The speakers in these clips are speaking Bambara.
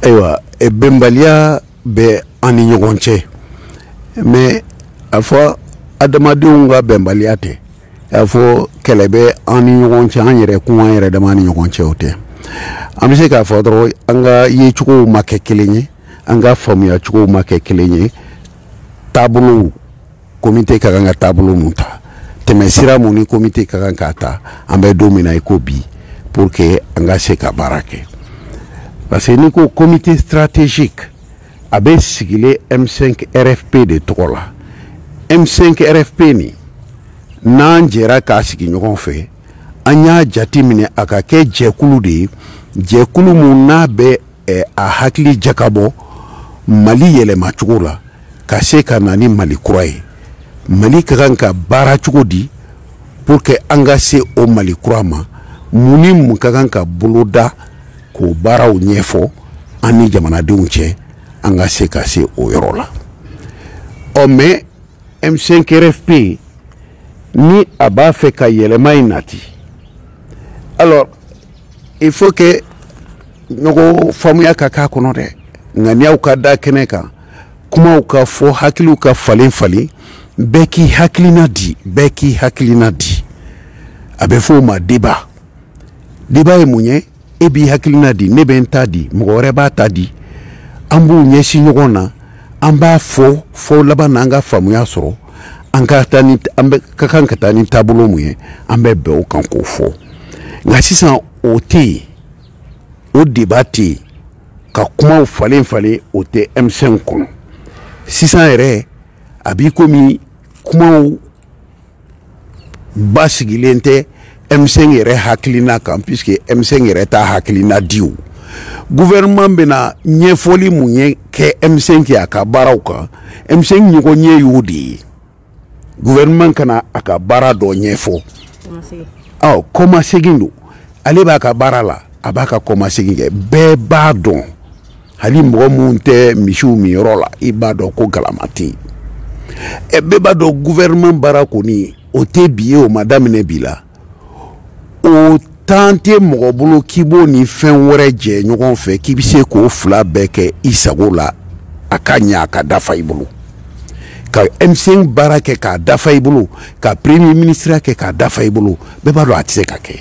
ayiwa e bɛnbaliya bɛ an ni ɲɔgɔn cɛ mais a fɔ adamadenw ka bɛnbaliya tɛ a fɔ kɛlɛ bɛ an ni ɲɔgɔn cɛ an yɛrɛ kun an yɛrɛ dama ni ɲɔgɔn cɛ o tɛ an bɛ se k'a fɔ dɔrɔn an ka yecogow ma kɛ kelen ye an ka faamuyacogow ma kɛ kelen ye taabolow komite ka kan ka taabolo mun ta tɛmɛsira mun ni komite ka kan k'a ta an bɛ don min na i ko bi pour que an ka se ka baara kɛ parce que n'i ko comité stratégique a bɛ sigilen M5 RFP de tɔgɔ la M5 RFP nin n'an jɛra k'a sigi ɲɔgɔn fɛ an y'a jate minɛ a ka kɛ jɛkulu de ye jɛkulu mun n'a bɛ eh, a hakili jakabɔ mali yɛlɛmacogo la ka se ka na ni mali kura ye mali ka kan ka baara cogo di pour que an ka se o mali kura ma mun ni mun ka kan ka boloda k'o baaraw ɲɛfɔ an ni jamanadenw cɛ an ka se ka se o yɔrɔ la ɔ mais M5 RFP ni a b'a fɛ ka yɛlɛma in nati alors il faut que ɲɔgɔn faamuya ka k'a kɔnɔ dɛ ŋaniyaw ka da kɛnɛ kan kumaw ka fɔ hakiliw ka falen falen bɛɛ k'i hakilina di bɛɛ k'i hakilina di a bɛ fɔ o ma débat débat ye mun ye e b'i hakilina di ne bɛ n ta di mɔgɔ wɛrɛ b'a ta di an b'u ɲɛsin ɲɔgɔn na an b'a fɔ fɔ laban na an ka faamuya sɔrɔ an ka taa ni an bɛɛ ka kan ka taa ni taabolo mun ye an bɛ bɛn o kan k'o fɔ nka sisan o tɛ yen o débat tɛ yen ka kumaw falen falen o tɛ M5 kɔnɔ sisan yɛrɛ a b'i komi kumaw basigilen tɛ M5 yɛrɛ hakilina kan puisque M5 yɛrɛ t'a hakilina di o gouvernement bɛna ɲɛfɔli mun ye kɛ M5 ye a ka baaraw kan M5 ɲɔgɔnye y'o de ye gouvernement ka na a ka baara dɔ ɲɛfɔ ɔ kɔmasegin don ale b'a ka baara la a b'a ka kɔmasegin kɛ bɛɛ b'a dɔn hali mɔgɔ min tɛ misiw minyɔrɔ la i b'a dɔn ko galama tɛ yen ɛ bɛɛ b'a dɔn gouvernement baara kɔni o tɛ bi ye o ma daminɛ bi la o temps tɛ mɔgɔ bolo k'i b'o ni fɛn wɛrɛ jɛ ɲɔgɔn fɛ k'i bɛ se k'o fila bɛɛ kɛ i sago la a ka ɲɛ a ka dafa i bolo ka M5 baara kɛ k'a dafa i bolo ka premier minisiriya kɛ k'a dafa i bolo bɛɛ b'a dɔn a tɛ se ka kɛ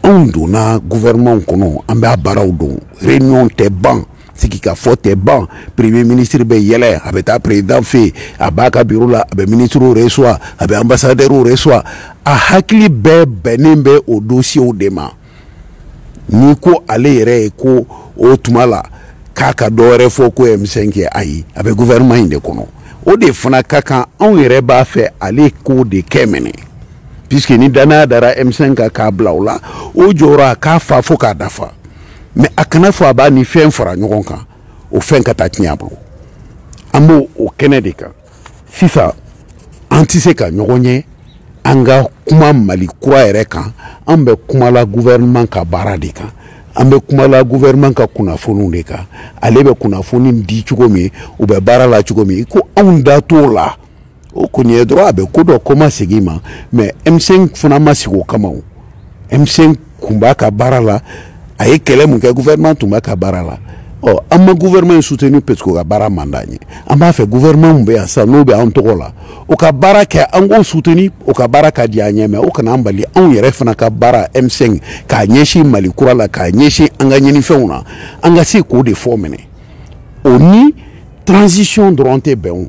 anw donna gouvernementw kɔnɔ an b'a baaraw dɔn réunion tɛ ban sigi ka fɔ tɛ ban premier ministre bɛ yɛlɛ a bɛ taa président fɛ a b'a ka biro la a bɛ ministrew reçoit a bɛ ambassadeurw reçoit a hakili bɛɛ bɛnnen bɛ o dossierw de ma n'i ko ale yɛrɛ ye ko o tuma la k'a ka dɔ wɛrɛ fɔ ko M5 kɛ ayi a bɛ gouvernement in de kɔnɔ o de fana ka kan anw yɛrɛ b'a fɛ ale k'o de kɛ minɛ puisque ni danaya dara M5 kan k'a bila o la o jɔyɔrɔ a k'a fa fo k'a dafa mais a kana fɔ a b'a ni fɛn fara ɲɔgɔn kan o fɛn ka taa tiɲɛ a bolo an b'o o kɛnɛ de kan sisan an tɛ se ka ɲɔgɔn ye an ka kuma mali kura yɛrɛ kan an bɛ kuma la gouvernement ka baara de kan an bɛ kuma la gouvernement ka kunnafoniw de kan ale bɛ kunnafoni di cogo min u bɛ baara la cogo min ko anw da t'o la o kɔni ye dɔrɔn a bɛ ko dɔ kɔmasegin ma mais M5 fana ma sigi o kama o M5 kun b'a ka baara la a ye kɛlɛ mun kɛ gouvernement tun b'a ka baara la ɔ an ma gouvernement soutenu parce que o ka baara man d'an ye an b'a fɛ gouvernement min bɛ yan sisan n'o bɛ an tɔgɔ la o ka baara kɛ an k'o soutenu o ka baara ka di an ɲɛ mais o kana an bali anw yɛrɛ fana ka baara M5 k'a ɲɛsin mali kura la k'a ɲɛsin an ka ɲinifɛnw na an ka se k'o de fɔ minɛ o ni transition dɔrɔn tɛ bɛn o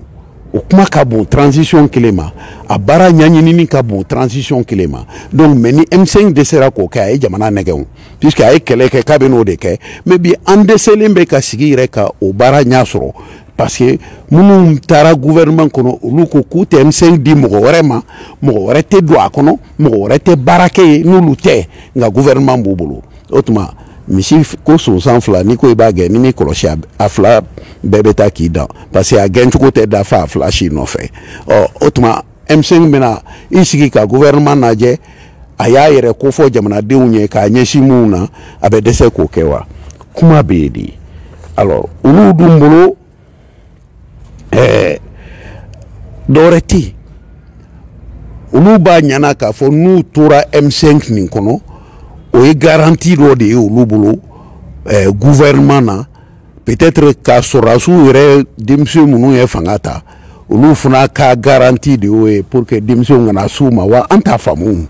o kuma ka bon transition kelen ma a baara ɲaɲinini ka bon transition kelen ma donc mais ni M5 dɛsɛra k'o kɛ a ye jamana nɛgɛn o puisque a ye kɛlɛ kɛ k'a bɛ n'o de kɛ mais bi an dɛsɛlen bɛ ka sigi yɛrɛ ka o baara ɲɛ sɔrɔ parce que minnu taara gouvernement kɔnɔ olu ko k'u tɛ M5 di mɔgɔ wɛrɛ ma mɔgɔ wɛrɛ tɛ don a kɔnɔ mɔgɔ wɛrɛ tɛ baara kɛ yen n'olu tɛ nka gouvernement b'u bolo o tuma misi ko sonsan fila n'i ko i b'a gɛn n'i m'i kɔlɔsi a fila bɛɛ bɛ taa k'i dan parce que a gɛncogo tɛ dafa a fila si nɔfɛ ɔ o tuma M5 bɛna i sigi ka gouvernement lajɛ a y'a yɛrɛ kofɔ jamanadenw ye k'a ɲɛsin minnu na a bɛ dɛsɛ k'o kɛ wa kuma bɛ yen de alors olu dun bolo ɛɛ dɔwɛrɛ tɛ yen olu b'a ɲana k'a fɔ n'u tora M5 nin kɔnɔ o ye garanti dɔ de ye olu bolo ɛɛ gouvernement na peut-être ka sɔrɔdasiw yɛrɛ denmisɛn minnu ye fanga ta olu fana ka garanti de y'o ye pour que denmisɛnw kana s'u ma wa an t'a faamu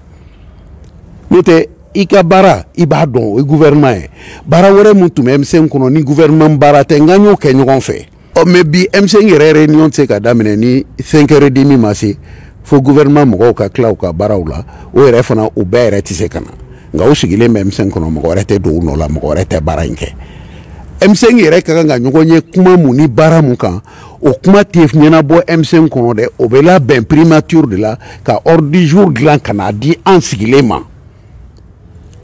n'o tɛ i ka baara i b'a dɔn o ye gouvernement ye baara wɛrɛ min tun bɛ M5 kɔnɔ ni gouvernement baara tɛ nka an y'o kɛ ɲɔgɔn fɛ ɔ mais bi M5 yɛrɛ réunion tɛ se ka daminɛ ni 5 heures demi ma se fo gouvernement mɔgɔw ka tila u ka baaraw la o yɛrɛ fana u bɛɛ yɛrɛ tɛ se ka na nka u sigilen bɛ M5 kɔnɔ mɔgɔ wɛrɛ tɛ don u nɔ la mɔgɔ wɛrɛ tɛ baara in kɛ M5 yɛrɛ ka kan ka ɲɔgɔn ye kuma mun ni baara mun kan o kuma tɛ ɲɛnabɔ M5 kɔnɔ dɛ o bɛ labɛn primature de la ka ordre du jour dilan ka n'a di an sigilen ma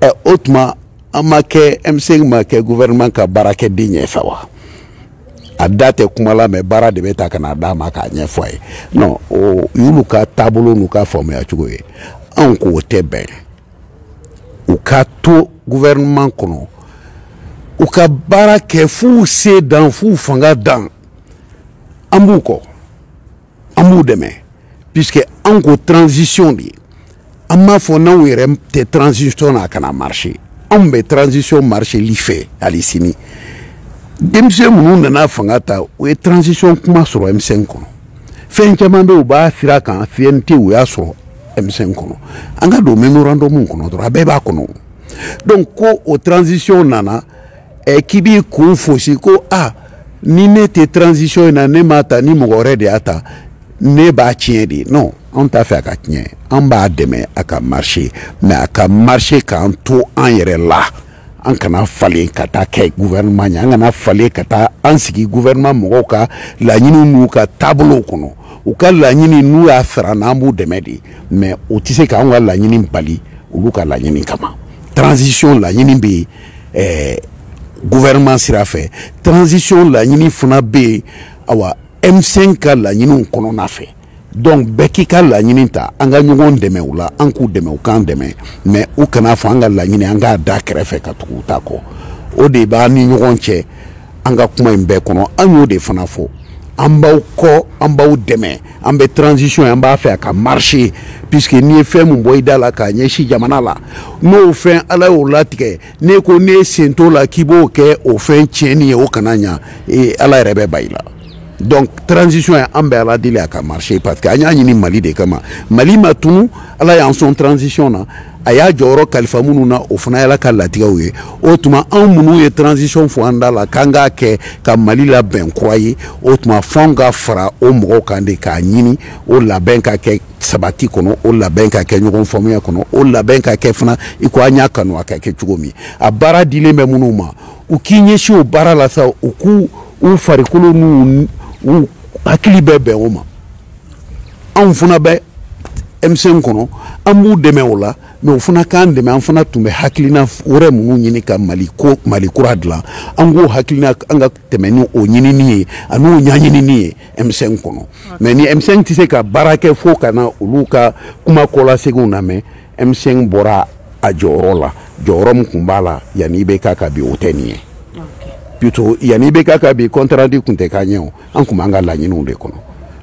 ɛ o tuma an ma kɛ M5 ma kɛ gouvernement ka baarakɛden ye sa wa a da tɛ kuma la mais baara de bɛ ta ka n'a d'a ma k'a ɲɛfɔ a ye non o y'olu ka taabolo n'u ka faamuya cogo ye anw ko o tɛ bɛn u ka to gouvernement kɔnɔ u ka baara kɛ f'u se dan f'u fanga dan an b'u kɔ an b'u dɛmɛ puisque an ko transition de an m'a fɔ n'anw yɛrɛ tɛ transition na a kana marche anw bɛ transition marcheli fɛ hali sini denmisɛn minnu nana fanga ta u ye transition kuma sɔrɔ M5 kɔnɔ fɛn caman bɛ u b'a sira kan CNT u y'a sɔrɔ M5 kɔnɔ an ka don memorandum kɔnɔ dɔrɔn a bɛɛ b'a kɔnɔ donc ko o transition nana ɛ k'i b'i kun fosi ko a ni ne tɛ transition in na ne m'a ta ni mɔgɔ wɛrɛ de y'a ta ne b'a tiɲɛ de non anw t'a fɛ a ka tiɲɛ an b'a dɛmɛ a ka marché mais a ka marché k'an to an yɛrɛ la an kana falen ka taa kɛ gouvernement ye an kana falen ka taa an sigi gouvernement mɔgɔw ka laɲiniw n'u ka taabolow kɔnɔ u ka laɲini n'u y'a sara an na an b'u dɛmɛ de mais o tɛ se k'anw ka laɲini bali olu ka laɲini kama transition laɲini bɛ yen ɛɛ gouvernement sira fɛ transition laɲini fana bɛ yen awa M5 ka laɲiniw kɔnɔna fɛ donc bɛɛ k'i ka laɲini ta an ka ɲɔgɔn dɛmɛ u la an k'u dɛmɛ u k'an dɛmɛ mais u kana a fɔ an ka laɲini an k'a da kɛrɛfɛ ka tugu u ta kɔ o de b'an ni ɲɔgɔn cɛ an ka kuma in bɛɛ kɔnɔ an y'o de fana fɔ an b'aw kɔ an b'aw dɛmɛ an bɛ transition an b'a fɛ a ka marche puisque n'i ye fɛn min bɔ i da la k'a ɲɛsin jamana la n'o fɛn ala y'o latigɛ n'e ko n'e sen t'o la k'i b'o kɛ o fɛn tiɲɛni ye o kana ɲa ala yɛrɛ bɛ ban i la donc transition ye an bɛ ala deli a ka marché parce que an y'a ɲini mali de kama mali ma tunu ala y'an sɔn transition na a y'a jɔyɔrɔ kalifa minnu na o fana y'ala ka latigɛw ye o tuma anw minnu ye transition fɔ an da la k'an k'a kɛ ka mali labɛn kura ye o tuma f'anw ka fara o mɔgɔw kan de k'a ɲini o labɛn ka kɛ sabati kɔnɔ o labɛn ka kɛ ɲɔgɔn faamuya kɔnɔ o labɛn ka kɛ fana i ko an y'a kanu a ka kɛ cogo min a baara dilen bɛ minnu ma u k'i ɲɛsin o baara la sa u k'u farikolo n'u hakili bɛɛ bɛn o ma anw fana bɛ M5 kɔnɔ an b'u dɛmɛ o la mais u fana k'an dɛmɛ an fana tun bɛ hakilina wɛrɛ minnu ɲini ka mali kura dilan an k'o hakilina an ka tɛmɛ ni o ɲinini ye an'o ɲaɲinini ye M5 kɔnɔ mais ni M5 tɛ se ka baara kɛ fo ka na olu ka kuma kɔlaseginw lamɛn M5 bɔra a jɔyɔrɔ la jɔyɔrɔ min tun b'a la yanni IBK ka bi o tɛ nin ye plutôt yanni IBK ka bi compte rendu tun tɛ k'an ye o an tun b'an ka laɲiniw de kɔnɔ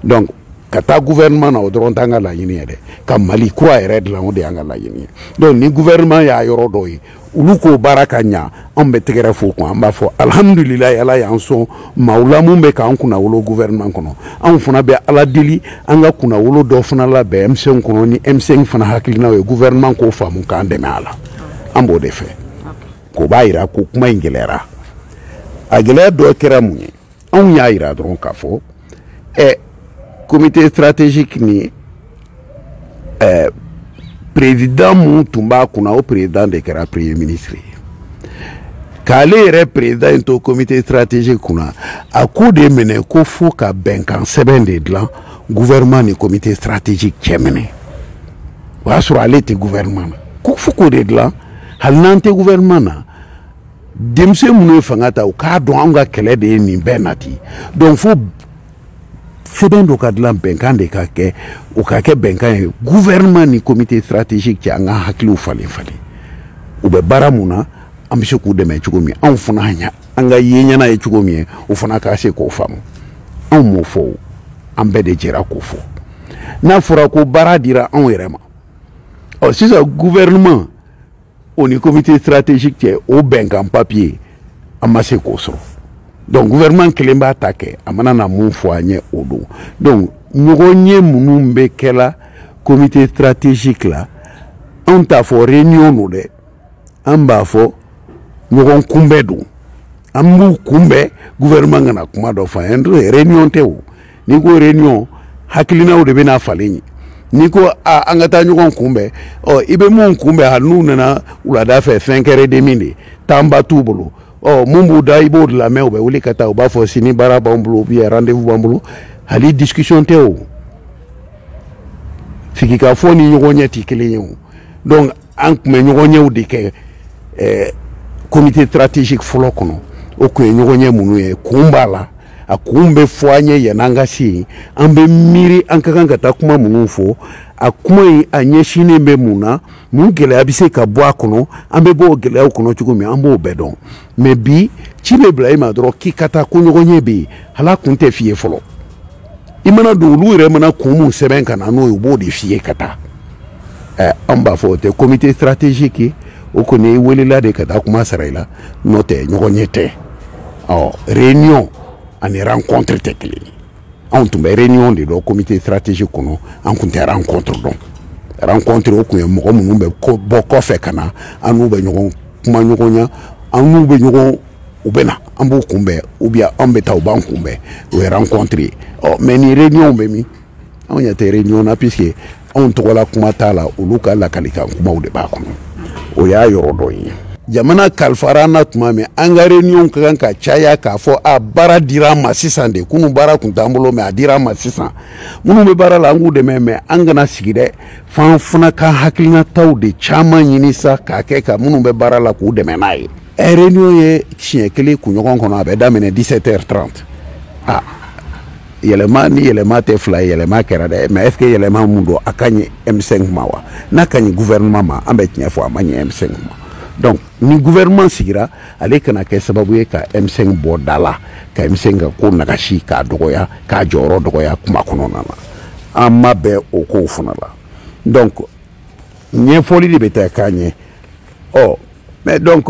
donc ka taa gouvernement na o dɔrɔn t'an ka laɲini ye dɛ ka mali kura yɛrɛ dilan o de y'an ka laɲini ye donc ni gouvernement y'a yɔrɔ dɔ ye olu k'o baara ka ɲa an bɛ tɛgɛrɛ f'u kun an b'a fɔ alhamdulilayi ala y'an sɔn maaw la mun bɛ k'an kunnawolo gouvernement kɔnɔ anw fana bɛ ala deli an ka kunnawolo dɔ fana labɛn M5 kɔnɔ ni M5 fana hakilinaw ye gouvernement k'o faamu k'an dɛmɛ a la an b'o de fɛ k'o b'a yira ko kuma in gɛlɛyara a gɛlɛya dɔ kɛra mun ye anw y'a yira dɔrɔn k'a fɔ ɛ comité stratégique ni ɛ président mun tun b'a kunna o président de kɛra premier ministre ye k'ale yɛrɛ président in to comité stratégique kunna a ko daminɛ ko fo ka bɛnkan sɛbɛn de dilan gouvernement ni comité stratégique cɛ minɛ o y'a sɔrɔ ale tɛ gouvernement na ko fo k'o de dilan hali n'an tɛ gouvernement na denmisɛn minnu ye fanga ta u k'a dɔn anw ka kɛlɛ de ye nin bɛɛ nati donc fo sɛbɛn dɔ ka dilan bɛnkan de ka kɛ o ka kɛ bɛnkan ye gouvernement ni comité stratégique cɛ an ka hakiliw falen falen u bɛ baara mun na an bɛ se k'u dɛmɛ cogo min anw fana ɲa an ka ye ɲɛna ye cogo min ye o fana ka se k'o faamu anw m'o fɔ o an bɛɛ de jɛra k'o fɔ n'a fɔra ko baara dira anw yɛrɛ ma ɔ sisan gouvernement o ni comité stratégique cɛ o bɛnkan papier an ma se k'o sɔrɔ donc gouvernement kelen b'a ta kɛ a mana na mun fɔ an ye o don donc ɲɔgɔnye minnu bɛ kɛla comité stratégique la anw t'a fɔ réunion don dɛ an b'a fɔ ɲɔgɔn kunbɛn don an b'u kunbɛn gouvernement kana kuma dɔ fɔ an ye réunion tɛ o n'i ko réunion hakilinaw de bɛna falen yen n'i ko a an ka taa ɲɔgɔn kunbɛn ɔ i bɛ mun kunbɛn hali n'u nana wulada fɛ cinq heures et demie de temps ba t'u bolo ɔ mun b'u da i b'o de lamɛn u bɛ wuli ka taa u b'a fɔ sini baara b'an bolo ou bien rendez-vous b'an bolo hali discussion tɛ o sigikafɔ ni ɲɔgɔnye tɛ kelen ye o donc an tun bɛ ɲɔgɔnyew de kɛ eh, comité stratégique fɔlɔ kɔnɔ o tun ye ɲɔgɔnye minnu ye kun b'a la a kun bɛ fɔ an ye yan'an ka se yen an bɛ miiri an ka kan ka taa kuma minnu fɔ a kuma in a ɲɛsinnen bɛ mun na mun gɛlɛya bɛ se ka bɔ a kɔnɔ an bɛ bɔ o gɛlɛyaw kɔnɔ cogo min an b'o bɛɛ dɔn mais bi ci bɛ bila i ma dɔrɔn k'i ka taa ko ɲɔgɔnye bɛ yen hal'a kun tɛ f'i ye fɔlɔ i mana don olu yɛrɛ mana kun mun sɛbɛn ka na n'o ye u b'o de f'i ye ka taa ɛɛ an b'a fɔ o tɛ comité stratégique ye o kɔni i welela de ka taa kuma sara i la n'o tɛ ɲɔgɔnye tɛ ɔ réunion ani rencontre tɛ kelen ye anw tun bɛ réunion de dɔn comité stratégique kɔnɔ an kun tɛ rencontre dɔn rencontre o kun ye mɔgɔ minnu bɛ bɔ kɔfɛ ka na an n'u bɛ ɲɔgɔn kumaɲɔgɔnya an n'u bɛ ɲɔgɔn u bɛ na an b'u kunbɛn ou bien an bɛ taa u b'an kunbɛn o ye rencontre ye ɔ mais ni réunion bɛ min anw ɲɛ tɛ réunion na puisque anw tɔgɔla kuma t'a la olu ka lakalikan kumaw de b'a kɔnɔ o y'a yɔrɔ dɔ ye jamana kalifara an na tuma min an ka réunion ka kan ka caya k'a fɔ a baara dira an ma sisan de kunu baara kun t'an bolo mais a dira an ma sisan minnu bɛ baara la an k'u dɛmɛ mais an kana sigi dɛ f'an fana ka hakilinataw de caman ɲini sa k'a kɛ ka minnu bɛ baara la k'u dɛmɛ n'a ye réunion ye siɲɛ kelen kunɲɔgɔn kɔnɔ a bɛ daminɛ 17 heures 30 a yɛlɛma ni yɛlɛma tɛ fila ye yɛlɛma kɛra dɛ mais est ce que yɛlɛma mun don a ka ɲi m5 ma wa n'a ka ɲi gouvernement ma an bɛ tiɲɛ fɔ a man ɲi m5 ma donc ni gouvernement sigira ale kana kɛ sababu ye ka m5 bɔ da la ka m5 ka ko nagasi k'a dɔgɔya k'a jɔyɔrɔ dɔgɔya kuma kɔnɔna na an ma bɛn o kow fana la donc ɲɛfɔli de bɛ taa k'a ɲɛ ɔ mais donc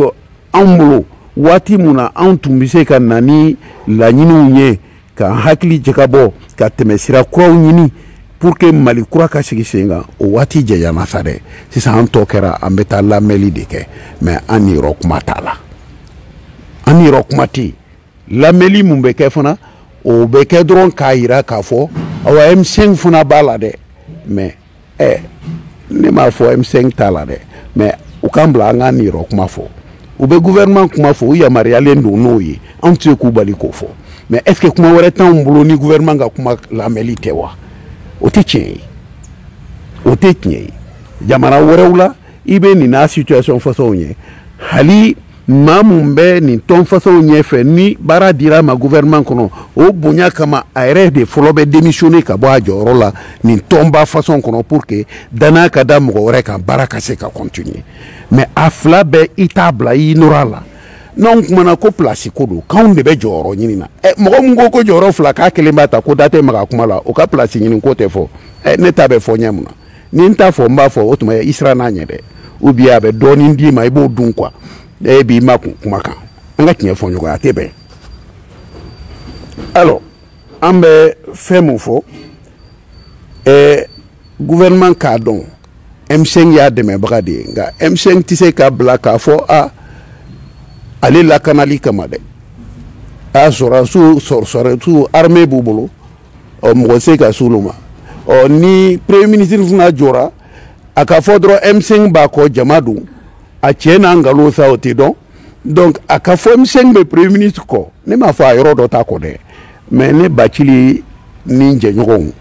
anw bolo waati mun na anw tun bɛ se ka na ni laɲiniw ye ka hakili jagabɔ ka tɛmɛsira kuraw ɲini pour que mali kura ka sigi sen kan o waati jɛyana sa dɛ sisan an tɔ kɛra an bɛ taa lamɛnli de kɛ mais an niyɔrɔ kuma t'a la an niyɔrɔ kuma tɛ yen lamɛnli mun bɛ kɛ fana o bɛ kɛ dɔrɔn k'a yira k'a fɔ awa m5 fana b'a la dɛ mais ɛ ne m'a fɔ m5 t'a la dɛ mais u k'an bila an k'an niyɔrɔ kuma fɔ u bɛ gouvernement kuma fɔ u yamaruyalen don n'o ye anw tɛ se k'u bali k'o fɔ mais est ce que kuma wɛrɛ t'anw bolo ni gouvernement ka kuma lamɛnli tɛ wa o tɛ tiɲɛ ye o tɛ tiɲɛ ye jamana wɛrɛw la i bɛ nin n'a situation façonw ye hali maa mun bɛ nin tɔn façonw ɲɛfɛ ni baara dira a ma gouvernement kɔnɔ o bonya kama a yɛrɛ de fɔlɔ bɛ démissionner ka bɔ a jɔyɔrɔ la nin tɔnba façon kɔnɔ pour que dannaya ka da mɔgɔ wɛrɛ kan baara ka se ka continuer mais a fila bɛɛ i t'a bila i nɔrɔ a la n'anw kumana ko place ko don k'anw de bɛ jɔyɔrɔ ɲini na ɛ mɔgɔ min ko ko jɔyɔrɔ fila k'a kelen b'a ta ko da tɛ maga kuma la o ka place ɲini ko tɛ fɔ ɛ ne ta bɛ fɔ ɲɛ mun na ni n t'a fɔ n b'a fɔ o tuma i siranna a ɲɛ dɛ ou bien a bɛ dɔɔnin d'i ma i b'o dun quoi e b'i makun kuma kan an ka tiɲɛ fɔ ɲɔgɔn ye a tɛ bɛn alors an bɛ fɛn mun fɔ ɛɛ gouvernement k'a dɔn M5 y'a dɛmɛbaga de ye nka M5 tɛ se ka bila k'a fɔ a ale lakanali kama dɛ a sɔrɔdasiw sɔrɔdasiw armée b'u bolo ɔ mɔgɔ se ka s'olu ma ɔ ni premier ministre fana jɔra a ka fɔ dɔrɔn m5 b'a kɔ jama dun a cɛn n'a nkalon sa o tɛ dɔn donc a ka fɔ m5 bɛ premier ministre kɔ ne m'a fɔ a yɔrɔ dɔ t'a kɔ dɛ mais ne bacili ni n jɛɲɔgɔnw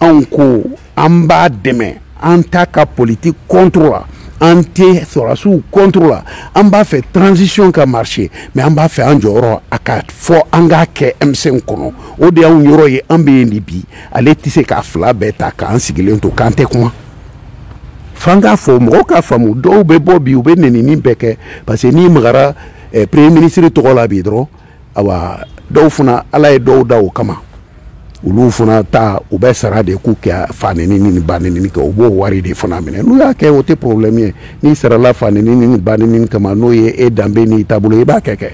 anw ko an b'a dɛmɛ an t'a ka politique contre la an tɛ sɔrɔdasiw contre la an b'a fɛ transition ka marcher mais an b'a fɛ an jɔyɔrɔ a ka fɔ an k'a kɛ M5 kɔnɔ o de y'anw yɔrɔ ye an bɛ yen de bi ale tɛ se k'a fila bɛɛ ta k'an sigilen to k'an tɛ kuma f'an k'a fɔ mɔgɔw k'a faamu dɔw bɛ bɔ bi u bɛ nenini bɛɛ kɛ parce que n'i magara eh, premier ministre tɔgɔ la bi dɔrɔn awa dɔw fana ala ye dɔw da o kama olu fana ta u bɛ sara de k'u ka fa nenini ni ba nenini kɛ u b'o wari de fana minɛ n'u y'a kɛ o tɛ problème ye n'i sarala fa nenini ni ba nenini kama n'o ye e danbe n'i taabolo i b'a kɛ kɛ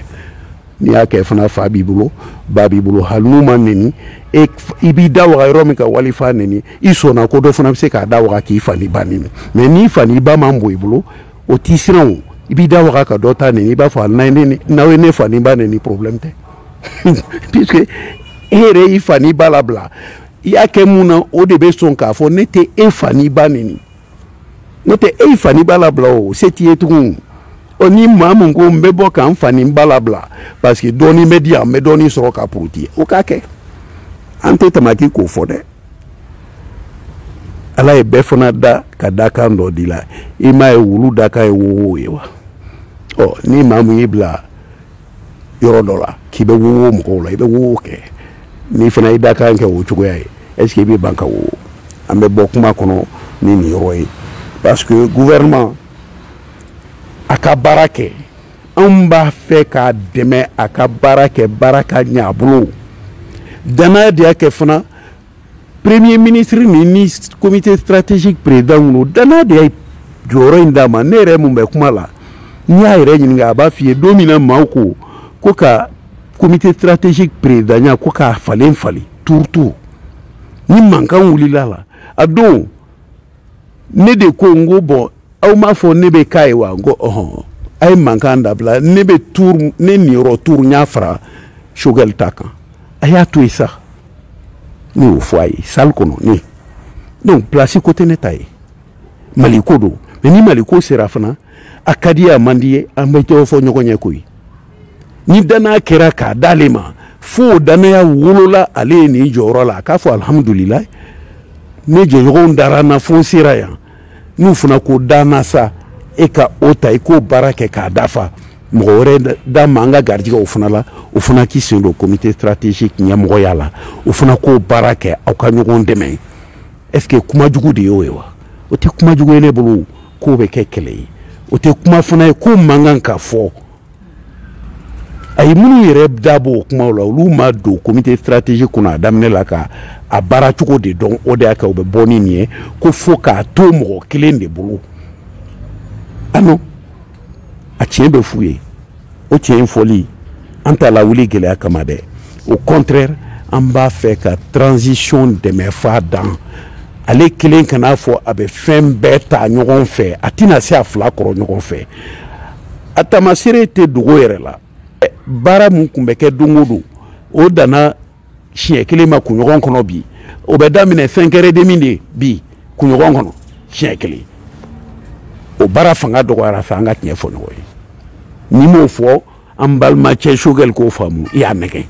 n'i y'a kɛ fana fa b'i bolo ba b'i bolo hali n'u ma neni e i b'i da waga yɔrɔ min ka wali fa neni i sɔnna ko dɔ fana bɛ se k'a da waga k'i fa ni ba neni mais n'i fa ni ba man bon i bolo o t'i siran o i b'i da waga ka dɔ ta neni i b'a fɔ a n'a ye n'aw ye ne fa ni ba neni problème tɛ puisque e yɛrɛ y'i fa ni ba labila i y'a kɛ mun na o de bɛ sɔn k'a fɔ ne tɛ e fa ni ba neni n'o tɛ e fa ni ba labila o se t'i ye tugun ɔ ni maa mun ko n bɛ bɔ ka n fa ni ba labila parce que dɔɔnin bɛ di yan n bɛ dɔɔnin sɔrɔ ka puruti o k'a kɛ an tɛ tamaki k'o fɔ dɛ ala ye bɛɛ fana da ka dakan dɔ d'i la i m'a ye wulu dakan ye wowo ye wa ɔ ni maa mun y'i bila yɔrɔ dɔ la k'i bɛ wowo mɔgɔw la i bɛ wowo kɛ n'i fana y'i dakan kɛ o cogoya ye est ce que i bɛ ban ka wowo an bɛ bɔ kuma kɔnɔ ni nin yɔrɔ ye parce que gouvernement a ka baara kɛ anw b'a fɛ k'a dɛmɛ a ka baara kɛ baara ka ɲɛ a bolo danaya de y'a kɛ fana premier ministre ni ni comité stratégique président ninnu danaya de ye jɔyɔrɔ in d'a ma ne yɛrɛ mun bɛ kuma la n'i y'a yɛrɛ ɲininka a b'a f'i ye don min na maaw ko ko ka comité stratégique présidenya ko k'a falen falen turutu ni mankan wulila la a don ne de ko n ko bɔn aw m'a fɔ ne bɛ k'a ye wa n ko ɔhɔn a ye mankan dabila ne bɛ tour ne niyɔrɔ tour n y'a fara choguel ta kan a y'a to yen sa ne y'o fɔ a ye salle kɔnɔ ne donc place ko tɛ ne ta ye mali ko don mais ni mali ko sera fana a ka d'i ye a man d'i ye an bɛ jɔnjɔn fɔ ɲɔgɔn ɲɛ koyi ni danaya kɛra k'a d'ale ma fo o danaya wolola ale ye nin jɔyɔrɔ la a k'a fɔ alihamudulilayi ne jɛɲɔgɔnw dara n na fo n sera yan n'u fana ko danna sa e ka o ta i k'o baara kɛ k'a dafa mɔgɔ wɛrɛ da ma an ka garijɛgɛ o fana la o fana k'i sen don comité stratégique ɲɛmɔgɔya la o fana k'o baara kɛ aw ka ɲɔgɔn dɛmɛ est ce que kuma jugu de y'o ye wa o tɛ kuma jugu ye ne bolo k'o bɛ kɛ kɛlɛ ye o tɛ kuma fana ye k'o man kan ka fɔ ayi minnu yɛrɛ da b'o kumaw la olu ma don comité stratégique kɔnɔ a daminɛ la ka a baara cogo de dɔn o de y'a kɛ u bɛ bɔ ni nin ye ko fo k'a to mɔgɔ kelen de bolo ah non a tiɲɛ bɛ f'u ye o tiɲɛ fɔli an t'a lawuli gɛlɛya kama dɛ au contraire an b'a fɛ ka transition dɛmɛ f'a dan ale kelen kan'a fɔ a bɛ fɛn bɛɛ ta ɲɔgɔn fɛ a tɛna se a fila kɔrɔ ɲɔgɔn fɛ a taamaseere tɛ dogo yɛrɛ la baara min tun bɛ kɛ don o don o danna siɲɛ kelen ma kunɲɔgɔn kɔnɔ bi o bɛ daminɛ cinq heures demie de bi kunɲɔgɔn kɔnɔ siɲɛ kelen o baara fanga dɔgɔyara fɛ an ka tiɲɛ fɔ ɲɔgɔn ye n'i m'o fɔ an balimacɛ choguel k'o faamu i y'a nɛgɛn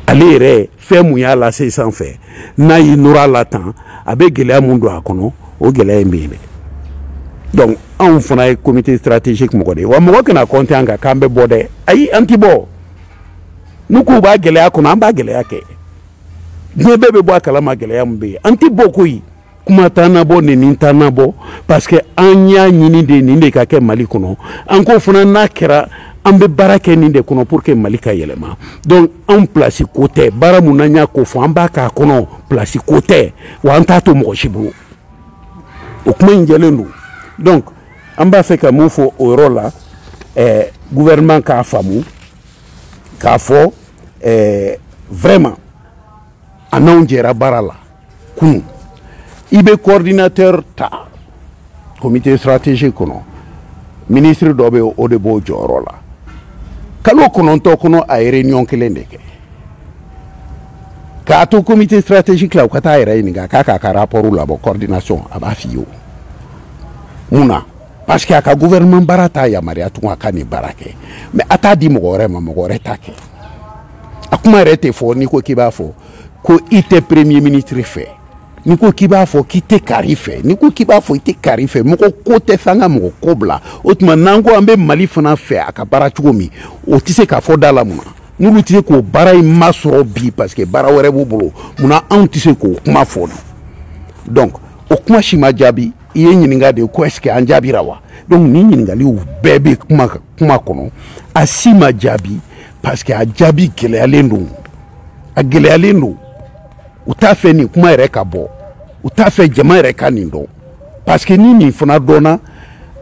ale yɛrɛ fɛn mun y'a lase sanfɛ n'a y'i nɔrɔ a la tan a bɛ gɛlɛya mun don a kɔnɔ o gɛlɛya in bɛ yen dɛ donc anw fana ye comité stratégique mɔgɔ de ye wa mɔgɔ kana compter an kan k'an bɛ bɔ dɛ ayi an ti bɔ n'u k'u b'a gɛlɛya kɔnɔ an b'a gɛlɛya kɛ diɲɛ bɛɛ bɛ bɔ a kalama gɛlɛya min bɛ yen an ti bɔ koyi kuma t'an nabɔ nin nin t'an nabɔ parce que an y'a ɲini de nin de ka kɛ mali kɔnɔ an k'o fana n'a kɛra an bɛ baara kɛ nin de kɔnɔ pour que mali ka yɛlɛma donc anw place ko tɛ baara mun n'an y'a ko fɔ an b'a k'a kɔnɔ place ko tɛ wa an t'a to mɔgɔ si bolo o kuma in jɛlen don donc an b'a fɛ ka mun fɔ o yɔrɔ la eh, gouvernement k'a faamu k'a fɔ eh, vraiment a n'anw jɛra baara la kunun i bɛ coordinateur ta comité stratégique kɔnɔ ministre dɔ bɛ o de b'o jɔyɔrɔ la kalo kɔnɔntɔn kɔnɔ a ye réunion kelen de kɛ k'a to comité stratégique la u ka taa a yɛrɛ ɲininka k'a k'a ka rapport labɔ coordination a b'a f'i ye o mun na parce que a ka gouvernement baara t'a yamaruya tugun a ka nin baara kɛ mais a t'a di mɔgɔ wɛrɛ ma mɔgɔ wɛrɛ t'a kɛ a kuma yɛrɛ tɛ fɔ n'i ko k'i b'a fɔ ko i tɛ premier ministre fɛ n'i ko k'i b'a fɔ k'i tɛ kari fɛ n'i ko k'i b'a fɔ i tɛ kari fɛ mɔgɔ ko tɛ fɛ an ka mɔgɔ ko bila o tuma n'an ko an bɛ mali fana fɛ a ka baara cogo min o tɛ se k'a fɔ da la mun na n'olu tɛ se k'o baara in masɔrɔ bi parce que baara wɛrɛ b'u bolo mun na anw tɛ se k'o kuma fɔ donc o kuma si ma jaabi i ye ɲininka de ko est ce que an jaabira wa donc nin ɲininkaliw bɛɛ bɛ kuma kɔnɔ a si ma jaabi parce que a jaabi gɛlɛyalen don a gɛlɛyalen don u t'a fɛ nin kuma yɛrɛ ka bɔ u t'a fɛ jama yɛrɛ ka nin dɔn parce que ni nin fana dɔnna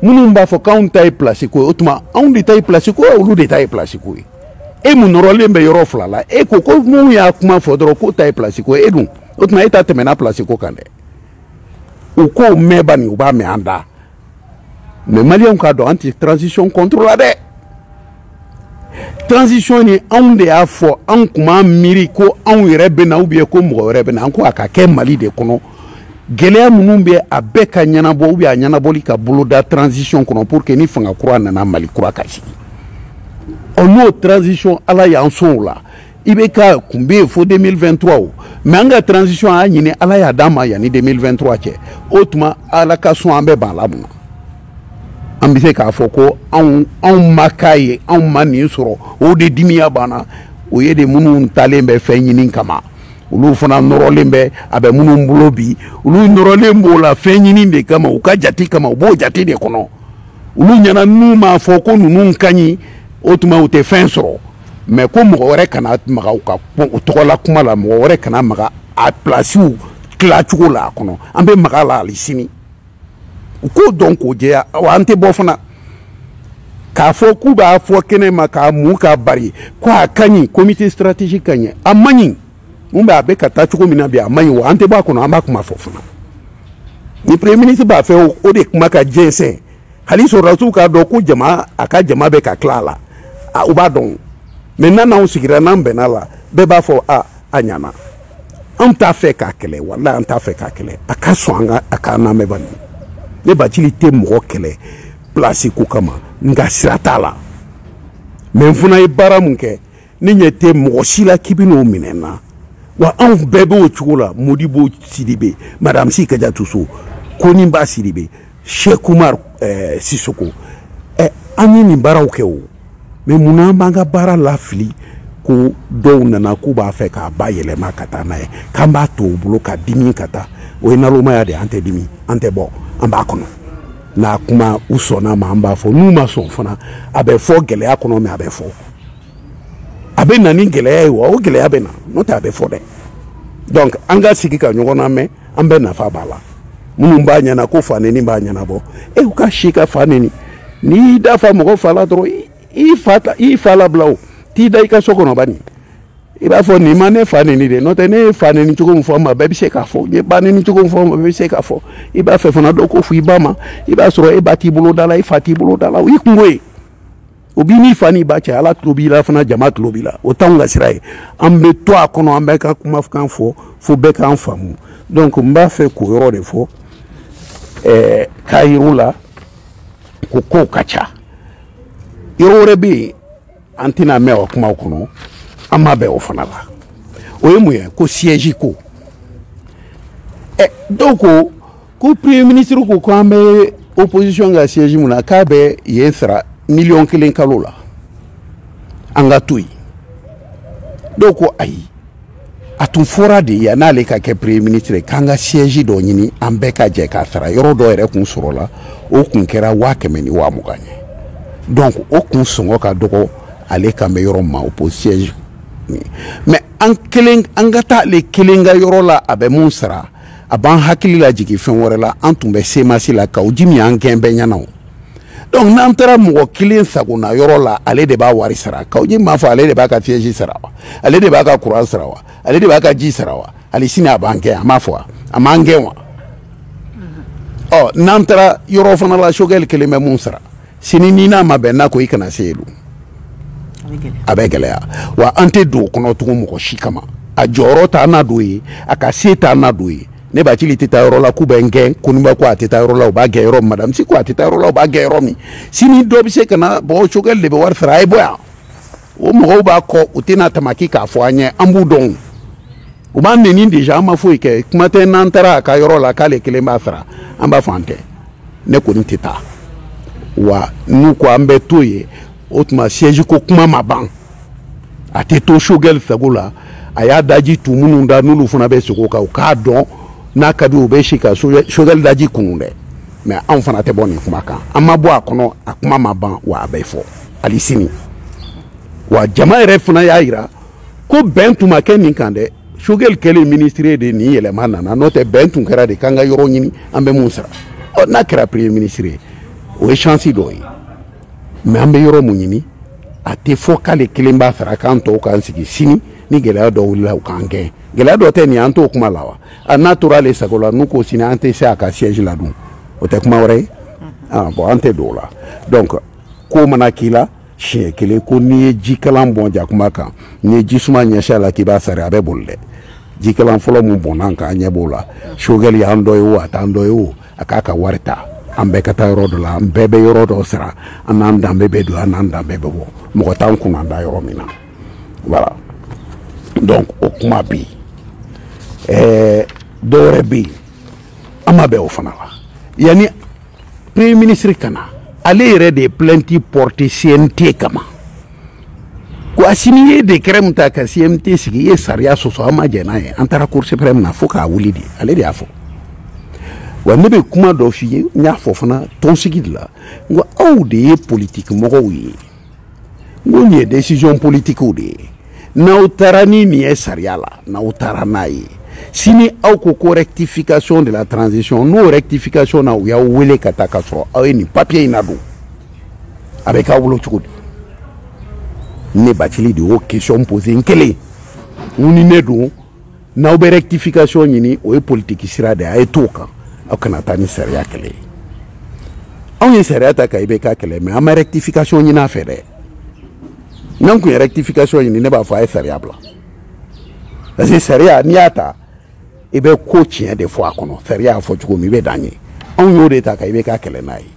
minnu b'a fɔ k'anw ta ye pilasi ko ye o tuma anw de ta ye pilasi ko ye olu de ta ye pilasi ko ye e mun nɔrɔlen bɛ yɔrɔ fila la e ko ko mun y'a kuma fɔ dɔrɔn k'o ta ye pilasi ko ye e dun o tuma e ta tɛmɛna pilasi ko kan dɛ u k'o mɛn bani u b'a mɛn an da mais maliyɛnw k'a dɔn an tɛ transition contre la dɛ transition ni anw de y'a fɔ anw tun b'an miiri ko anw yɛrɛ bɛ na ou bien ko mɔgɔ wɛrɛ bɛ na an ko a ka kɛ mali de kɔnɔ gɛlɛya minnu bɛ a bɛɛ ka ɲɛnabɔ ou bien a ɲɛnabɔli ka boloda transition kɔnɔ pour que ni fanga kura nana mali kura ka sigi ɔ n'o transition ala y'an sɔn o la i bɛ ka kun bɛ yen fo 2023 o mais an ka transition a y'a ɲini ala y'a d'an ma yanni 2023 cɛ o tuma ala ka sɔn an bɛ ban a la mun na an bɛ se k'a fɔ ko anw anw ma k'a ye anw ma nin sɔrɔ o de dimiya b'an na o ye de minnu taalen bɛ fɛn ɲini kama olu fana nɔrɔlen bɛ a bɛ minnu bolo bi olu nɔrɔlen b'o la fɛn ɲini de kama u ka jate kama u b'o jate de kɔnɔ olu ɲɛna n'u m'a fɔ ko ninnu ka ɲi o tuma u tɛ fɛn sɔrɔ mais ko mɔgɔ wɛrɛ kana maga u ka u tɔgɔla kuma la mɔgɔ wɛrɛ kana maga a plasiw tila cogo la a kɔnɔ an bɛ maga a la hali sini u k'o dɔn k'o jɛya wa an tɛ bɔ fana k'a fɔ k'u b'a fɔ kɛnɛ ma k'a mun k'a bari ko a ka ɲi comité stratégique ka ɲi a man ɲi mun bɛ a bɛ ka taa cogo min na bi a man ɲi wa an tɛ bɔ a kɔnɔ an b'a kuma fɔ fana ni premier ministre b'a fɛ o de kuma ka jɛnsɛn hali sɔrɔdasiw k'a dɔn ko jama a ka jama bɛ ka tila a la u b'a dɔn mais n'an n'anw sigira n'an bɛnna a la bɛɛ b'a fɔ a a ɲana anw t'a fɛ k'a kɛlɛ walayi an t'a fɛ k'a kɛlɛ a ka sɔn an ka a k'an lamɛn bani ne bacili tɛ mɔgɔ kɛlɛ pilasi ko kama n ka sira t'a la mais n fana ye baara mun kɛ ne ɲɛ tɛ mɔgɔ si la k'i bɛn'o minɛ n na wa anw bɛɛ b'o cogo la modibo sidibe madame si kajatu so koninba sidibe shek umar eh, sisoko eh, an ye nin baaraw kɛ o mais munna an b'an ka baara lafili ko dɔw nana k'u b'a fɛ k'a bayɛlɛma ka taa n'a ye k'an b'a to u bolo ka dimi ka taa o ye nalomaya de an tɛ dimi an tɛ bɔ an b'a kɔnɔ n'a kuma u sɔnna a ma an b'a fɔ n'u ma sɔn fana a bɛ fɔ gɛlɛya kɔnɔ mais a bɛ fɔ a bɛ na ni gɛlɛya ye wa o gɛlɛya bɛ na n'o tɛ a bɛ fɔ dɛ donc an ka sigi ka ɲɔgɔn lamɛn an bɛɛ nafa b'a la minnu b'a ɲɛna ko fa neni b'a ɲɛnabɔ e u ka si ka fa neni n'i y'i da fa mɔgɔ fa la dɔrɔn i fa i fa labila o t'i da i ka so kɔnɔ bani i b'a fɔ nin ma ne fa neni dɛ n'o tɛ ne ye fa neni cogo min fɔ n ma bɛɛ bɛ se k'a fɔ n ye ba neni cogo min fɔ n ma bɛɛ bɛ se k'a fɔ i b'a fɛ fana dɔ k'o fɔ i ba ma i b'a sɔrɔ e ba t'i bolo da la i fa t'i bolo da la o y'i kunko ye o b'i n'i fa n'i ba cɛ ala tulo b'i la fana jama tulo b'i la o t'anw ka sira ye an bɛ to a kɔnɔ an bɛ ka kumakan fɔ fo bɛɛ k'an faamu donc n b'a fɛ k'o yɔrɔ de fɔ ɛɛ k'a yir'u la ko kow ka ca yɔrɔ wɛrɛ bɛ yen an tɛna mɛn o kumaw kɔnɔ an ma bɛn o fana la o ye mun ye ko siège ko ɛ dɔw ko ko premier ministre ko ko an bɛ opposition ka siège mun na k'a bɛ yen sara miliyɔn kelen kalo la an ka to yen dɔw ko ayi a tun fɔra de yan n'ale ka kɛ premier ministre k'an ka siège dɔ ɲini an bɛɛ ka jɛ k'a sara yɔrɔ dɔ yɛrɛ kun sɔrɔla o kun kɛra waa kɛmɛ ni waa mugan ye donc o kun sɔngɔ ka dɔgɔ ale kan bɛ yɔrɔ ma o po siège mais an ka taa ale kelen ka yɔrɔ la a bɛ mun sara a b'an hakili la jigin fɛn wɛrɛ la an tun bɛ cmas la kaou djim y'an gɛn bɛɛ ɲɛna o donc n'an taara mɔgɔ kelen sagona yɔrɔ la ale de b'a wari sara kaou djim m'a fɔ ale de b'a ka siège sara wa ale de b'a ka kuran sara wa ale de b'a ka ji sara wa hali sini a b'an gɛn a m'a fɔ wa a m'an gɛn wa ɔ n'an taara yɔrɔ fana la choguel kelen bɛ mun sara sini n'i n'a ma bɛn n'a ko i kana se yen a bɛ gɛlɛya wa an tɛ don o kɔnɔ tugun mɔgɔ si kama a jɔyɔrɔ t'an nadon yen a ka se t'an nadon yen ne bathily tɛ taa yɔrɔ la k'u bɛ n gɛn konimba ko a tɛ taa yɔrɔ la u b'a gɛn yɔrɔ min madame sy ko a tɛ taa yɔrɔ la u b'a gɛn yɔrɔ min sini dɔ bɛ se ka na bɔ ko choguel de bɛ wari sara a ye bɔ yan o mɔgɔw b'a kɔ u tɛna tamaki k'a fɔ an ye an b'u dɔn u b'an neni deja an ma foyi kɛ kuma tɛ n'an taara a ka yɔrɔ la k'ale kelen b'a sara an b'a fɔ an tɛ ne kɔni tɛ taa wa n'u ko an bɛ to yen o tuma siège ko kuma ma ban a tɛ to choguel sago la a y'a daji tu minnu da n'olu fana bɛ sigi o kan u k'a dɔn n'a ka di u bɛ se ka choguel daji kunun dɛ mais anw fana tɛ bɔ nin kuma kan an ma bɔ a kɔnɔ a kuma ma ban wa a bɛ fɔ hali sini wa jama yɛrɛ fana y'a jira ko bɛn tun ma kɛ nin kan dɛ choguel kɛlen minisiri de nin yɛlɛma nana n'o tɛ bɛn tun kɛra de k'an ka yɔrɔ ɲini an bɛ mun sara ɔ n'a kɛra premier minisiri ye o ye chance dɔ ye mais an bɛ yɔrɔ mun ɲini a tɛ fɔ k'ale kelen b'a sara k'an tɔw k'an sigi sini ni gɛlɛya dɔ wulila u k'an gɛn gɛlɛya dɔ tɛ nin an t'o kuma la wa a n'a tora ale sago la n'u ko sini an tɛ se a ka siège la dun o tɛ kuma wɛrɛ ye ah, bon an tɛ don o la donc ko mana k'i la siɲɛ kelen ko n'i ye jikalan bɔn jakuma kan n'i ye jisuma ɲɛsin a la k'i b'a sari a bɛ boli dɛ jikalan fɔlɔ min bɔnna an kan an ɲɛ b'o la choguel y'an dɔ ye o a t'an dɔ ye o a k'a ka wari ta an bɛɛ ka taa yɔrɔ dɔ la an bɛɛ bɛ yɔrɔ dɔ sara an n'an danbe bɛ don an n'an danbe bɛ bɔ mɔgɔ t'an kunnada yɔrɔ min na voilà donc o kuma bɛ yen ɛɛ dɔwɛrɛ bɛ yen an ma bɛn o fana la yanni premier ministre ka na ale yɛrɛ de ye plainte porté cnt kama ko asimi ye décret min ta ka cnt sigi i ye sariya sɔsɔ an ma jɛn n'a ye an taara cour suprême na fo k'a wuli de ale de y'a fɔ wa ne bɛ kuma dɔ f'i ye n y'a fɔ fana tɔnsigi de la n ko aw de ye politiki mɔgɔw ye ko nin ye décision politiquew de ye n'aw taara ni nin ye sariya la n'aw taara n'a ye sini aw ko ko rectification de la transition n'o rectification na u y'aw wele ka taa ka sɔrɔ aw ye nin papier in nadon a bɛ k'aw bolo cogo di ne bathily de y'o question posé n kelen n ni ne don n'aw bɛ rectification ɲini o ye politiki sira de a ye t'o kan aw kana taa ni sariya kɛlɛ ye anw ye sariya ta ka IBK kɛlɛ mais an ma rectification ɲini a fɛ dɛ n'an tun ye rectification ɲini ne b'a fɔ a ye sariya bila parce que sariya n'i y'a ta i bɛ ko tiɲɛ de fɔ a kɔnɔ sariya y'a fɔ cogo min i bɛ dan yen anw y'o de ta ka IBK kɛlɛ n'a ye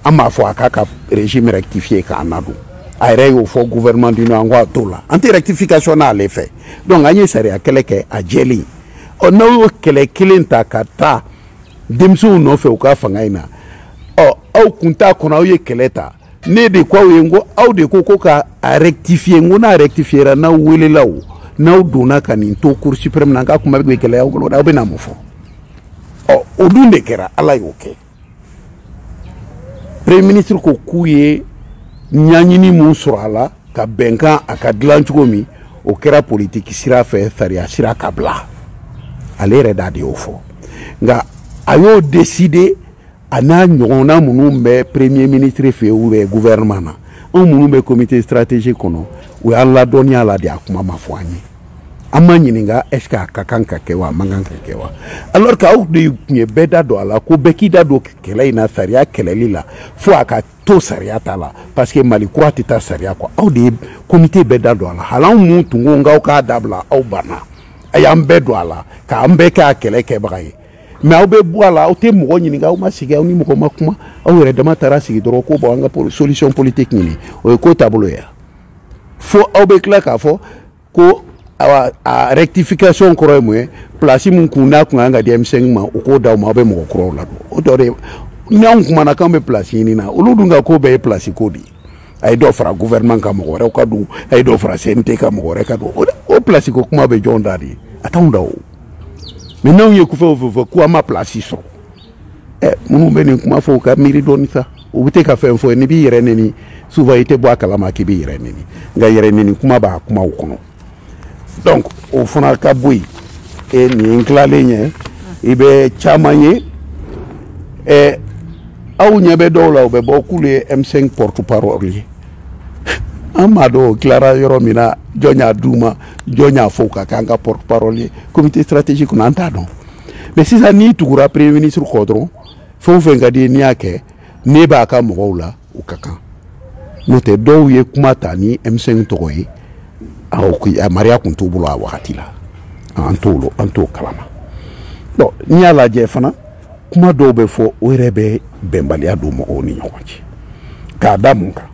an m'a fɔ a k'a ka régime rectifier k'an nadon a yɛrɛ y'o fɔ gouvernement d'union an ko a t'o la an tɛ rectification n'ale fɛ donc an ye sariya kɛlɛ kɛ a jɛlen ɔ n'aw y'o kɛlɛ kelen ta ka taa denmisɛnw nɔfɛ u ka fanga in na ɔ aw kun t'a kɔnɔ aw ye kɛlɛ ta ne de ko aw ye n ko aw de ko ko ka a rectifier n ko n'a rectifiera n'aw welela o n'aw donna ka nin to cour suprême na n k'a kuma bɛ gɛlɛya aw bolo aw bɛna mun fɔ ɔ o dun de kɛra ala y'o kɛ premier ministre ko k'u ye ɲaɲini min sɔrɔ a la ka bɛnkan a ka dilan cogo min o kɛra politiki sira fɛ sariya sira ka bila ale yɛrɛ da de y'o fɔ nka a y'o décidé a n'a ɲɔgɔnna minnu bɛ premier ministre fɛ yen ou bien gouvernement na anw minnu bɛ comité stratégique kɔnɔ u y'an ladɔnniya la de a kuma ma fɔ an ye an ma ɲininka est ce que a ka kan ka kɛ wa a man kan ka kɛ wa alors que aw de tun ye bɛɛ da don a la ko bɛɛ k'i da don kɛlɛ in na sariya kɛlɛli la fo a ka to sariya ta la parce que mali kura tɛ taa sariya kɔ aw de ye comité bɛɛ da don a la hali anw minnu tun ko k'aw k'a dabila aw banna a y'an bɛɛ don a la k'an bɛɛ kɛ a kɛlɛ kɛbaga ye mais aw bɛ bɔ a la aw tɛ mɔgɔ ɲininka aw ma sigi aw ni mɔgɔ ma kuma aw yɛrɛ dama taara sigi dɔrɔn ko bon an ka solution politique ɲini o ye ko taabolo ye fo aw bɛ tila k'a fɔ ko awa a rectification kɔrɔ ye mun ye place min kun n'a kun kan ka di M5 ma u k'o d'aw ma aw bɛ mɔgɔ kuraw ladon o tɔ de n'anw kumana k'an bɛ place ɲini na olu dun ka ko bɛɛ ye place ko de ye a ye dɔ fara gouvernement kan mɔgɔ wɛrɛw ka don a ye dɔ fara CNT kan mɔgɔ wɛrɛ ka don o place ko kuma bɛ jɔn da de ye a t'anw da o mais n'anw ye ko fɛn o fɛn fɔ ko an ma place sɔrɔ minnu bɛ nin kuma fɔ u ka miiri dɔɔni sa u bɛ te ka fɛn fɔ n'i b'i yɛrɛ neni souvent i tɛ bɔ a kalama k'i b'i yɛrɛ neni nka yɛrɛ neni kuma b'a kumaw kɔnɔ donc o fana ka bɔ yen e nin ye tilalen ye i bɛ caman ye ɛ aw ɲɛ bɛ dɔw la u bɛ bɔ k'olu ye M5 porte parole ye an m'a dɔn o tilara yɔrɔ min na jɔn y'a d'u ma jɔn y'a fɔ u ka k'an ka porte parole ye comité stratégique kɔnɔ an t'a dɔn mais sisan n'i tugura premier ministre kɔ dɔrɔn fɛn o fɛn ka d'i ye n'i y'a kɛ n'i b'a ka mɔgɔw la o ka kan n'o tɛ dɔw ye kuma ta ni M5 tɔgɔ ye yamaruya tun t'u bolo a wagati la an t'o an t'o kalama bon n'i y'a lajɛ fana kuma dɔw bɛ fɔ o yɛrɛ bɛ bɛnbaliya don mɔgɔw ni ɲɔgɔn cɛ k'a da mun kan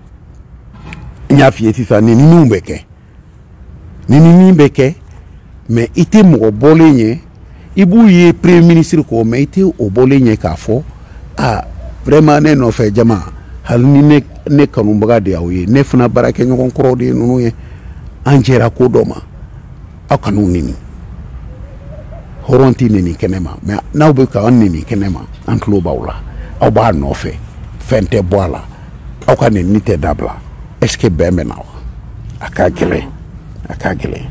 n y'a f'i ye sisan nenini bɛ kɛ nenini bɛ kɛ mais i tɛ mɔgɔ bɔlen ye i b'u ye premier ministre kɔ mais i tɛ o bɔlen ye k'a fɔ a vraiment ne nɔfɛ jama hali ni ne ne kanubaga de y'aw ye ne fana baarakɛɲɔgɔn kɔrɔw de ye ninnu ye an jɛra ko dɔ ma aw kan'u neni hɔrɔn tɛ neni kɛnɛ ma mais n'aw bɛ k'an neni kɛnɛ ma an tulo b'aw la aw b'a nɔfɛ fɛn tɛ bɔ a la aw ka nenini tɛ dabila est ce que bɛn bɛ na wa a ka gɛlɛn a ka gɛlɛn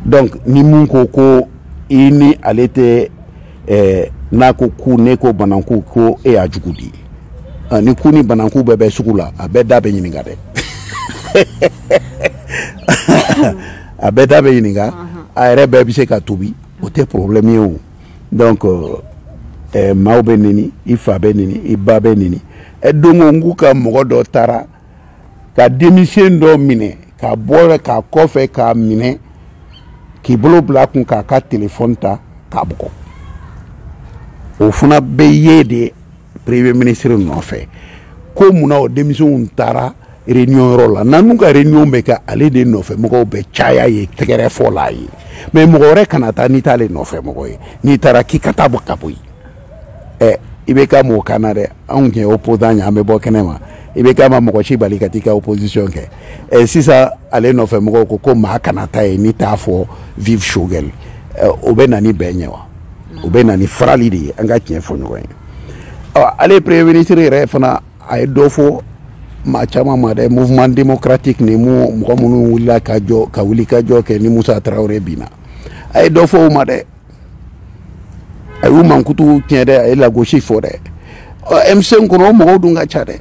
donc ni mun ko ko i ni ale tɛ eh, n'a ko ku ne ko bananku ko e y'a jugu di ah, ni ku ni bananku bɛɛ bɛ sugu la a bɛɛ da bɛ ɲininka dɛ a bɛɛ da bɛ ɲininka a yɛrɛ bɛɛ bɛ se ka tobi o tɛ problème ye o donc eh, maaw bɛ neni i fa bɛ neni i ba bɛ neni donc n k'u ka mɔgɔ dɔ taara ka denmisɛn dɔ minɛ ka bɔ k'a kɔfɛ k'a minɛ k'i bolo bila kun k'a ka telefɔni ta k'a bugɔ o fana bɛ yen de premier ministre nɔfɛ ko mun na o denmisɛnw taara réunion yɔrɔ la n'an ka réunion bɛ kɛ ale de nɔfɛ mɔgɔw bɛ caya yen tɛgɛrɛ fɔ la yen mais mɔgɔ wɛrɛ kana taa n'i t'ale nɔfɛ mɔgɔ ye n'i taara k'i ka taa bɔ ka bɔ yen ɛ IBK m'o k'an na dɛ anw tun ye opposant ye an bɛ bɔ kɛnɛ ma IBK ma mɔgɔ si bali ka t'i ka opposition kɛ ɛ sisan ale nɔfɛ mɔgɔw ko ko maa kana taa yen n'i t'a fɔ vive Choguel o bɛ na ni bɛn ye wa o bɛ na ni farali de ye an ka tiɲɛ fɔ ɲɔgɔn ye ɔ ale premier ministre yɛrɛ fana a ye dɔ fɔ maa caman ma dɛ mouvement démocratique ni mu mɔgɔ minnu wulila ka jɔ ka wuli ka jɔ kɛ ni Musa Tarawele binna a ye dɔ fɔ o ma dɛ a y'u mankutu tiɲɛ dɛ a ye lagosi fɔ dɛ M5 kɔnɔ o mɔgɔw dun ka ca dɛ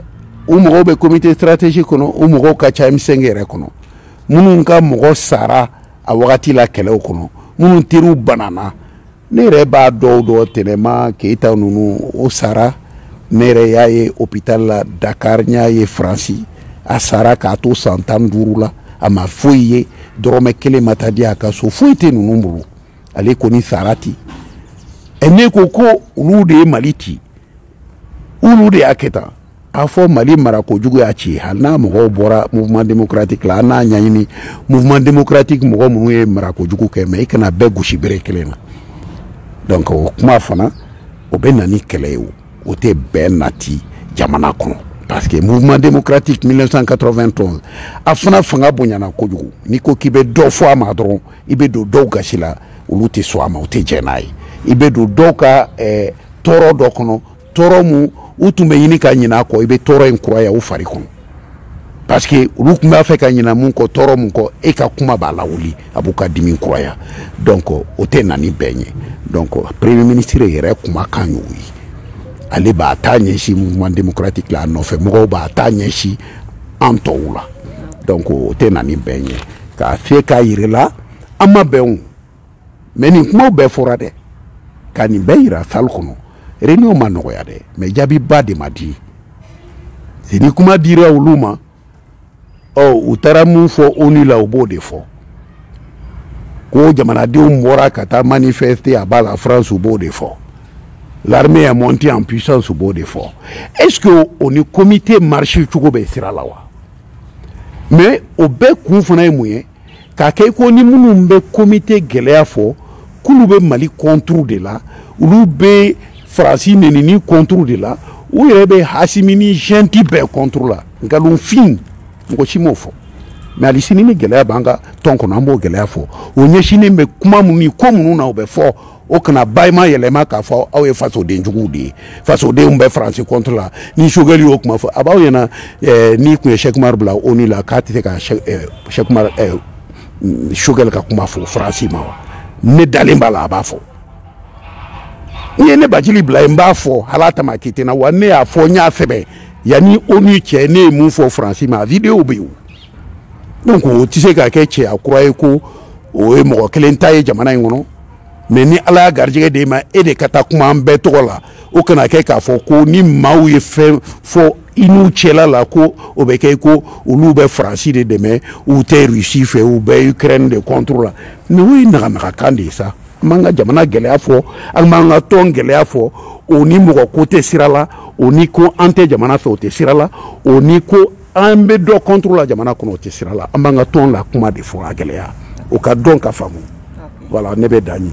u mɔgɔw bɛ comité stratégique kɔnɔ u mɔgɔw ka ca M5 yɛrɛ kɔnɔ minnu ka mɔgɔ sara a wagati la kɛlɛw kɔnɔ minnu teriw banana ne yɛrɛ b'a dɔw dɔn tɛnɛma keyita ninnu o sara ne yɛrɛ y'a ye hôpital la dakar n y'a ye faransi a sara k'a to san tan duuru la a ma foyi ye dɔrɔmɛ kelen ma taa di a ka so foyi tɛ ninnu bolo ale kɔni sara ten ɛ ne ko ko olu de ye mali ci olu de y'a kɛ tan a fɔ mali mara kojugu y'a ci hali n'a mɔgɔw bɔra mouvement démocratique la an n'a ɲɛɲini mouvement démocratique mɔgɔ minnu ye mara kojugu kɛ mais i kana bɛɛ gosi bere kelen na donc o kuma fana o bɛ na ni kɛlɛ ye o o tɛ bɛn nati jamana kɔnɔ parce que mouvement démocratique 1991 a fana fanga bonyana kojugu n'i ko k'i bɛ dɔ fɔ a ma dɔrɔn i bɛ don dɔw gasi la olu tɛ sɔn a ma u tɛ jɛn n'a ye i bɛ don dɔw ka eh, tɔɔrɔ dɔ kɔnɔ tɔɔrɔ mun u tun bɛ ɲini ka ɲinɛ a kɔ i bɛ tɔɔrɔ in kuraya u fari kɔnɔ parce que olu tun b'a fɛ ka ɲinɛ mun kɔ tɔɔrɔ mun kɔ e ka kuma b'a lawuli a b'u ka dimi kuraya donc o tɛ na ni bɛn ye donc premier ministre yɛrɛ kumakan y'o ye ale b'a ta ɲɛsin mouvement démocratique la a nɔfɛ mɔgɔw b'a ta ɲɛsin an tɔw la donc o tɛ na ni bɛn ye k'a fiyɛ k'a yir'a la an ma bɛn o mais nin kumaw bɛɛ fɔra dɛ ka nin bɛɛ yira salle kɔnɔ réunion ma nɔgɔya dɛ mais jaabiba de ma di ni kuma dira olu ma ɔ u taara mun fɔ onu la u b'o de fɔ ko jamanadenw bɔra ka taa manifester à bas la france u b'o de fɔ l'armée est montée en puissance u b'o de fɔ est-ce que o ni comité marcher cogo bɛ sira la wa mais o bɛɛ kun fana ye mun ye k'a kɛ i ko ni minnu bɛ comité gɛlɛya fɔ k'olu bɛ mali contre de la olu bɛ faransi nenini contre de la u yɛrɛ bɛ hasimi ni junte bɛɛ contre la nkalonfin mɔgɔ si m'o fɔ mais hali sini ni gɛlɛya b'an ka tɔn kɔnɔ an b'o gɛlɛya fɔ o ɲɛsinnen bɛ kuma minnu ni ko minnu na o bɛ fɔ o kana bayima yɛlɛma k'a fɔ aw ye fasoden juguw de ye fasodenw bɛ faransi contre la ni choguel y'o kuma fɔ a b'aw ɲɛna eh, n'i tun ye cheick oumar bila onu la k'a tɛ se ka cheick oumar eh, eh, choguel ka kuma fɔ faransi ma wa ne dalen b'a la a b'a fɔ n'i ye ne bathily bila yen n b'a fɔ hali a tamaki tɛ n na wa ne y'a fɔ n y'a sɛbɛn yanni onu cɛ ne ye mun fɔ faransi ma vidéow bɛ yen donc o tɛ se ka kɛ cɛya kura ye ko o ye mɔgɔ kelen ta ye jamana in kɔnɔ mais ni ala y'a garijɛgɛ d'e ma e de ka taa kuma an bɛɛ tɔgɔ la o kana kɛ k'a fɔ ko ni maaw ye fɛn fɔ i n'u cɛla la ko o bɛ kɛ ko olu bɛ faransi de dɛmɛ u tɛ rusi fɛ u bɛ ukraine de contre la mais o ye naganagakan de ye sa an b'an ka jamana gɛlɛya fɔ an b'an ka tɔn gɛlɛya fɔ o ni mɔgɔ ko tɛ sira la o ni ko an tɛ jamana fɛ o tɛ sira la o ni ko an bɛ dɔ contre la jamana kɔnɔ o tɛ sira la an b'an ka tɔn la kuma de fɔ a gɛlɛya o ka dɔn ka faamu voilà ne bɛ dan yen